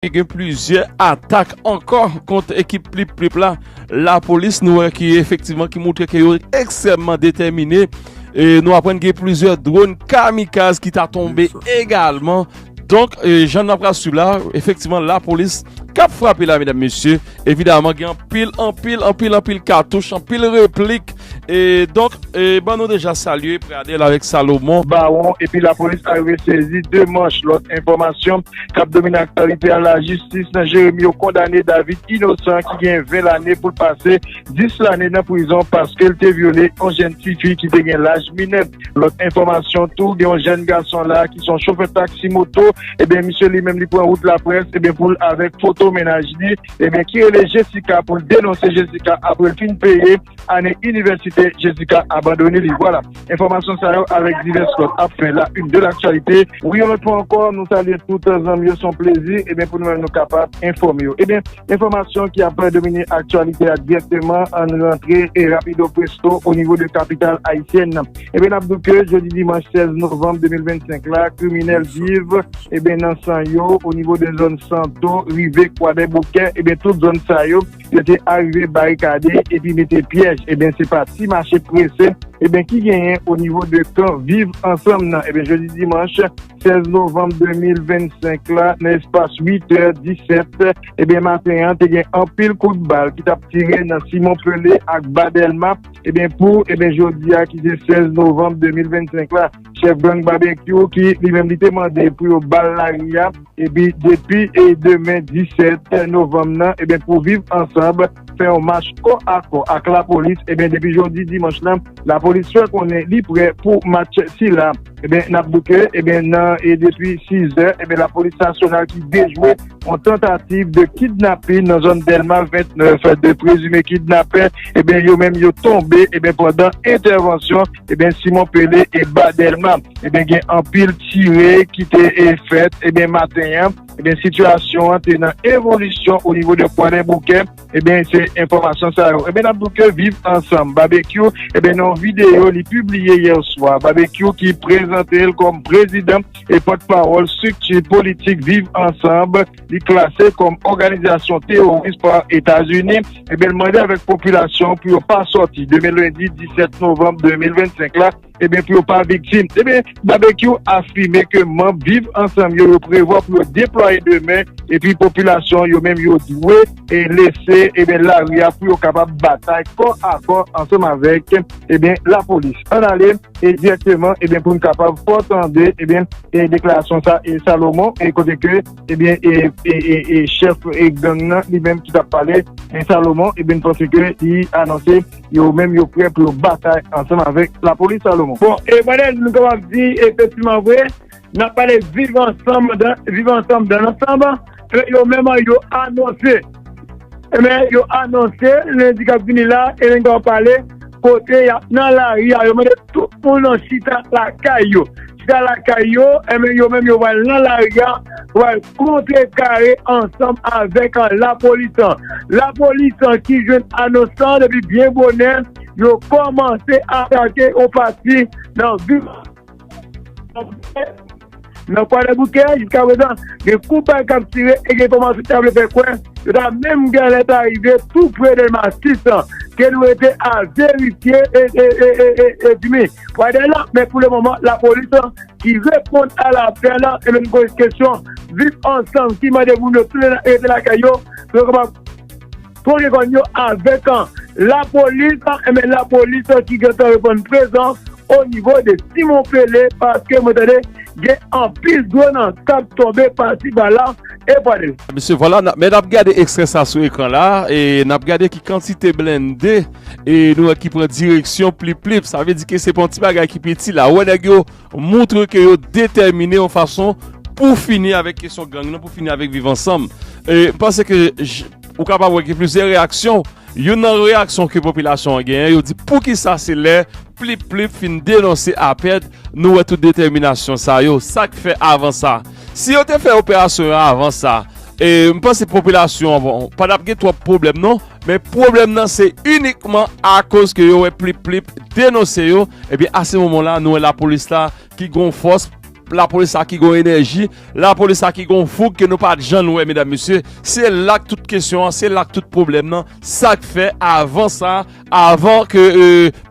Li gen plizyè atak ankò kont ekip Plip Plip la. Lapolis nou wè ki efektivman ki moutre ke yo ekstrèmman detèmine. E nou aprann gen plizyè dron kamikaz ki ta tonbe egalman. Donk, jan n ap pral swiv la, efektivman lapolis k ap frape la medam mesye. Evidaman gen anpil, anpil, anpil, anpil katouch, anpil replik. E donk e ban nou deja salye Pradel avèk Salomon. Baron epi lapolis arive sezi 2 manch lòt enfòmasyon kap domine aktyalite a lajistis nan Jeremi yo kondane David Inosan ki gen 20 lane poul pase 10 lane nan prizon paskel te vyole yon jèn tifi ki te gen laj minè lòt enfòmasyon tou gen yon jèn gason la ki son chofè taksi moto ebyen misye li menm li pran wout laprès ebyen poul avèk foto mennaj li ebyen ki rele Jessica poul denonse Jessica aprel fin peye ane inivèsite Jessica abandone li. Vwala, enfòmasyon sa yo avèk divès lòt ap fè la une de l'actualité. Wi yon lòt fwa ankò nou salye tout zanmi yo, se yon plezi ebyen pou nou menm nou kapab enfòme yo. Ebyen enfòmasyon ki ap domine aktyalite a dirèkteman ann rantre e rapido presto o nivo de kapital ayisyèn nan. Ebyen n ap di w ke jodi dimanch 16 novanm 2025 la kriminèl viv ebyen nan san yo o nivo de zòn Santo rive Kwadèboukè ebyen tout zòn sa yo Yo te arive barikade epi mete pyèj eben se pa ti mache prese eben ki genyen o nivo de kan viv ansanm nan eben jodi dimanch 16 novanm 2025 la nan espas 8 tè 17 eben maten an te gen anpil kout bal ki tap tire nan Simon Pele ak Badelma eben pou eben jodi a ki se 16 novanm 2025 la. chèf gang Babenkyou ki li menm li te mande pou yo ba l lari a epi depi demen 17 novanm nan e pou viv ansanb fè yon mach kò a kò ak lapolis e depi jodi dimanch lan lapolis fè konnen li prè pou mach sila e eh n ap bouke e eh nan e depi 6 zè e eh lapolis nasyonal ki dejwe yon tantativ de kidnapin nan zòn Dèlma 29 fè de prezime kidnapè e eh yo menm yo tonbe e pandan entèvansyon Ebyen Simon Pele e ba Dèlma. Ebyen gen anpil tire ki te e fèt ebyen maten an. Ebyen sitiyasyon an te nan evolisyon o nivo de Kwadè Boukè. Ebyen se enfòmasyon sa yo. Ebyen n ap di w ke Viv Ansanm Babekyou ebyen nan yon videyo li pibliye yè swa, Babekyou ki prezante l kòm prezidan e pòtpawòl strikti politik Viv Ansanm. li klase kòm òganizasyon teworis pa Etazini, ebyen l mande avèk popilasyon an pou yo pa sòti demen lendi 17 novanm 2025 la, ebyen pou yo pa viktim. Ebyen Babekyou afime ke manb Viv Ansanm yo yo prevwa pou yo deplwaye demen epi popilasyon an yo menm yo dwe lese ebyen lari a pou yo kapab batay kò a kò ansanm avèk. ebyen eh la polis an ale e direkteman ebyen eh poun kapab fò tande ebyen eh e deklarasyon sa e Salomon e kote ke ebyen eh e e e e chèf e gang nan li menm ki tap pale e Salomon ebyen n panse ke li anonse yo menm yo prè pou yo batay ansanm avèk la polis Salomon. Bon e mwen nou kapab di efektiman vre Nap pale viv ansanm viv ansanm dan ansanm e yo menm yo anonse e men yo anonse lendi kap vini la e nen kap pale kote yap nan lari a yo mande tout moun nan chita lakay yo chita lakay yo e men yo menm yo pral nan lari a pou al kontre kare ansanm avèk an lapolis an lapolis an ki jwenn anons lan depi byen bonè yo kòmanse atake yon pati nan vil. Nan Kwadèboukè, jiska prezan, gen kout bal k ap tire e gen enfòmasyon ki ta vle fè kwè yo ta menm gen alèt a rive tou pre Delma 6 lan. Ke nou rete a verifye e Jimmy Kwadè la. Men pou le moman, lapolis lan ki reponn a lapèl lan e menm poze kesyon Viv Ansanm ki mande moun yo tounen rete lakay yo pou yo kapab. Pou reponn yo avèk lapolis, enben lapolis ki gentan reponn prezan onivo de Simon Pele paske mwen tande gen anpil dwòn k ap tonbe pasi pala e pwale. Mesye vwala men n ap gade ekstrè sa sou ekran la e n ap gade ki kantite blende e nou wè ki pran direksyon Plip Plip sa vle di ke se pa yon ti bagay ki piti la wè nèg yo Montre ke yo detèmine yon fason pou fini avèk kesyon gang nan, pou fini avèk viv ansanm. M panse ke ou kapab wè gen plizyè reyaksyon. Youn nan reyaksyon ke popilasyon an genyen, yo di poukisa se lè Plip Plip fin denonse Apèd nou wè tout detèminasyon sa yo? Sa k fè avan sa? Si yo te fè operasyon yo avan sa, m panse popilasyon an pa t ap gen twòp pwoblèm non. Men pwoblèm nan se inikman akoz ke yo wè Plip Plip denonse yo, ebyen a se moman la nou wè lapolis la ki gon fòs, lapolis la ki gon enèji, lapolis la ki gon foug ke nou pa jann wè medam mesye, se la k tout kesyon an, se la k tout pwoblèm nan, sa k fè avan sa, avan ke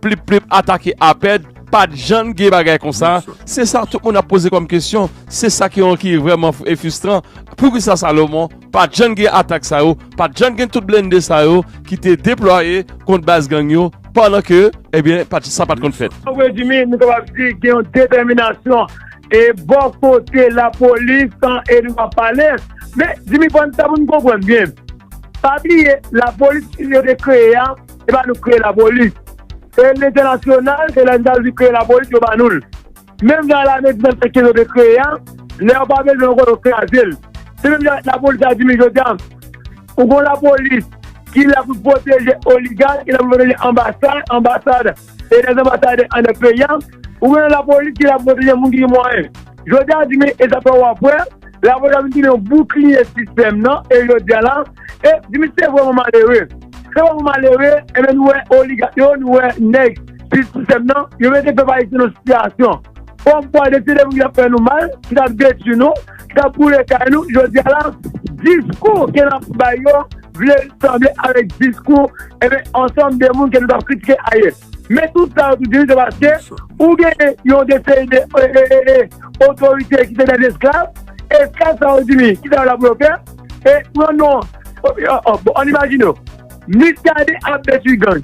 Plip Plip atake Apèd, pa t jann gen bagay konsa, se sa tout moun ap poze kòm kesyon, se sa ki vrèman e fistran, poukisa Salomon. Pat jann gen atak sa yo, pat jann gen tout blende sa yo ki te deplwaye kont baz gang yo pandan ke ebyen sa pat konn fèt. An rezime, nou kapab di gen yon detèminasyon e bò kote lapolis san Eddy wap pale. Men, Jimmy pran sa pou nou konprann byen. Pa bliye lapolis ki yo te kreye a, se pa nou ki kreye lapolis. Se lentènasyonal, se lentènasyonal ki kreye lapolis yo ba nou l. Menm jan lame di nan tèks ke yo te kreye a, lè yo pa bezwen ankò yo kraze l. Se menm jan ak lapolis la di men jodi a, ou gen yon lapolis ki la pou pwoteje oligak, ki la pou pwoteje anbasad, anbasad e lè anbasadè anndan peyi a, ou gen yon lapolis ki la pou pwoteje moun ki gen mwayen. Jodi a di men e sa fè wap wè, lapolis la vin tounen yon boukliye sistèm nan e jodi a la, e di men se vrèman malere. Se vrèman malere, e men nou wè oligak yo, nou wè nèg. Plis sistèm nan, yo mete pèp ayisyen nan sitiyasyon kòm kwa de se de moun ki t ap fè nou mal, ki t ap detui nou, ki t ap boule kay nou, jodi a la diskou ke n ap bay yo vle sanble avèk diskou enben ansanm de moun ke nou t ap kritike ayè. Men tout sa yo tou di se paske ou genyen yon de seri de otorite ki se dè esklav, esklav sa yo di li kisa yo la pou yo fè e pran non an imajine w, Muscadin ap detui gang.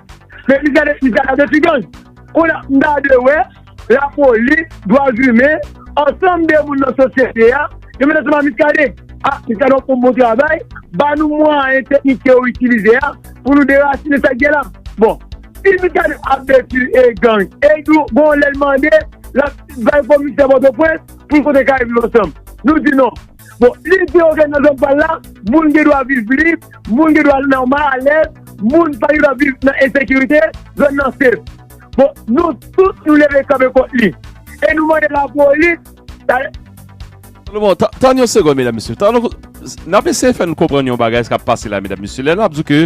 Men li gade li gade ti gang. Kounye a m ta dwe wè lapolis, dwazimen, ansanm de moun nan sosyete a yo mete sou ma Miskaden. A, Miskaden wap fè yon bon travay, ba nou mwayen teknik ke ou itilize a pou nou derasinen sa k gen la. Bon, si Miskaden ap detwi e gang, e nou gon lè l mande l ap bay komisè Pòtoprens pou l kontre kay li ansanm. Nou di non. Bon, lite yo gen nan zòn pa l la, moun gen dwa viv lib, moun gen dwa nòmal, alèz, moun pa gen dwa viv nan ensekirite, zòn nan sef. Bon, nou tout nou leve kanpe kont li. E nou mande lapolis, ta. Solomon, tann yon segonn medam mesye, tann yon, n ap eseye fè n konprann yon bagay sa k ap pase la medam mesye, lè n ap di w ke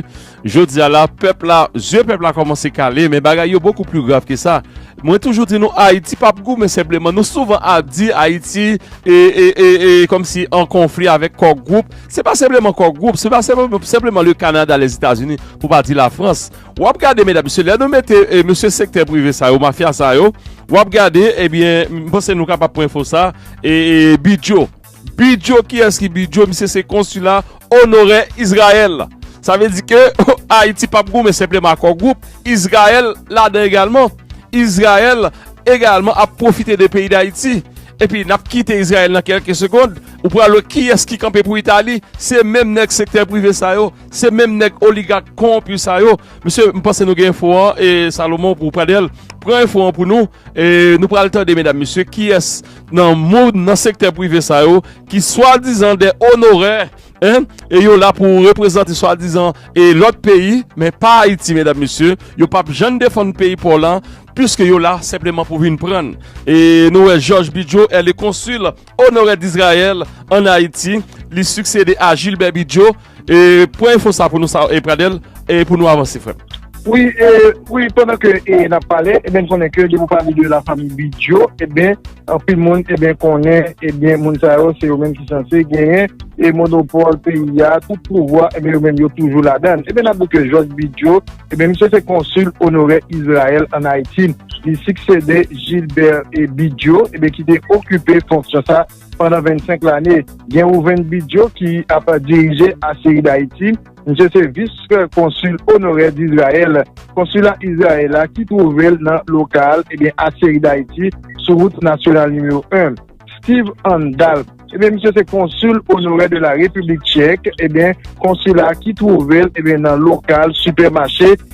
Jodi a la, pèp la, zye pèp la kòmanse kale, men bagay yo bokou pli grav ke sa. Mwen toujou di nou Ayiti pap gou men senpleman nou souvan ap di Ayiti e, e, e, e, kòm si an konfli avèk Kò Gwoup. Se pa senpleman Kò Gwoup, se pa senpleman le Kanada, Lèzetazini, pou pa di Lafrans. W ap gade medam mesye, lè nou mete mesye sektè prive sa yo, mafya sa yo, w ap gade, ebyen, m panse nou kapab pran enfo sa, e, e, Bidjo. Bidyo kiyès ki bidyo misye se konsila onorè Izrayèl sa vle di ke Ayiti pap goumen senpleman ak yon gwoup Izrayèl ladan egalman Izrayèl egalman ap pwofite de peyi dayiti epi nap kite Izrayèl nan kèlke segond ou pral wè kiyès ki kanpe pou Itali se menm nèg sektè prive sa yo se menm nèg oligak kowonpi sa yo mesye m panse nou gen enfo an e Salomon ou Pradèl pran enfo an pou nou e nou pral tande medam mesye kiyès nan moun nan sektè prive sa yo ki swadizan dè onorè e yo la pou reprezante swadizan e lòt peyi men pa Ayiti medam mesye yo pap jann defann peyi paw lan piske yo la senpleman pou vin prann e nou wè jòj bidjo e le konsil onorè dizrayèl an Ayiti li siksede a jilbè bidjo Pran info sa pou nou sa e pradel e pou nou avanse frem. Wi e wi pandan ke e nap pale e ben konnen ke depi ou pale de la fanmi bidjo e ben anpil moun e ben konnen e ben moun sa yo se yo menm ki sanse genyen e monopol peyi ya tout pouvwa e ben yo menm yo toujou la dan e ben nap di ke jòj bidjo e ben misye se konsil onorè izrayèl an ayiti li siksede jilbè e bidjo e ben ki te okipe fonksyon sa. pandan 25 lane, gen Rouven Bidjo ki ap dirije Asiri Dayiti, misye se vis konsil onorè Dizrayèl, konsila Izrayèl la ki twouve l nan lokal ebyen Asiri Dayiti sou wout nasyonal nimewo 1. Stiv Andal, ebyen misye se konsil onorè de la Repiblik Tchèk, ebyen konsila ki twouve l ebyen nan lokal sipèmache.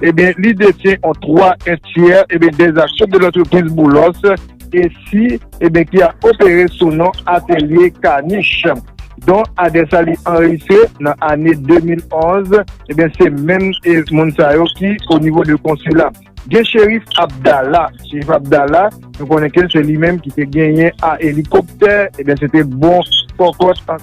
Ebyen li detyen an 3 1 tyè ebyen dè aksyon de lantrepriz Boulos e si ebyen ki ap opere sou non atelye Kanich. Don adè sa li anrejistre nan ane 2011 ebyen se menm e moun sa yo ki o nivo de konsila. Gen Cherif Abdala, Cherif Abdala nou konnen ke se li menm ki te genyen a elikoptè ebyen se te bon kòkòt an.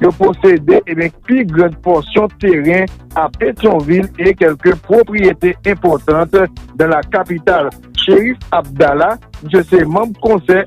Yo posede ebyen pi grand pòsyon teren a Petyonvil e kelke pwopriyete enpòtant dan la kapital. Cherif Abdala, misye se manb konsèy.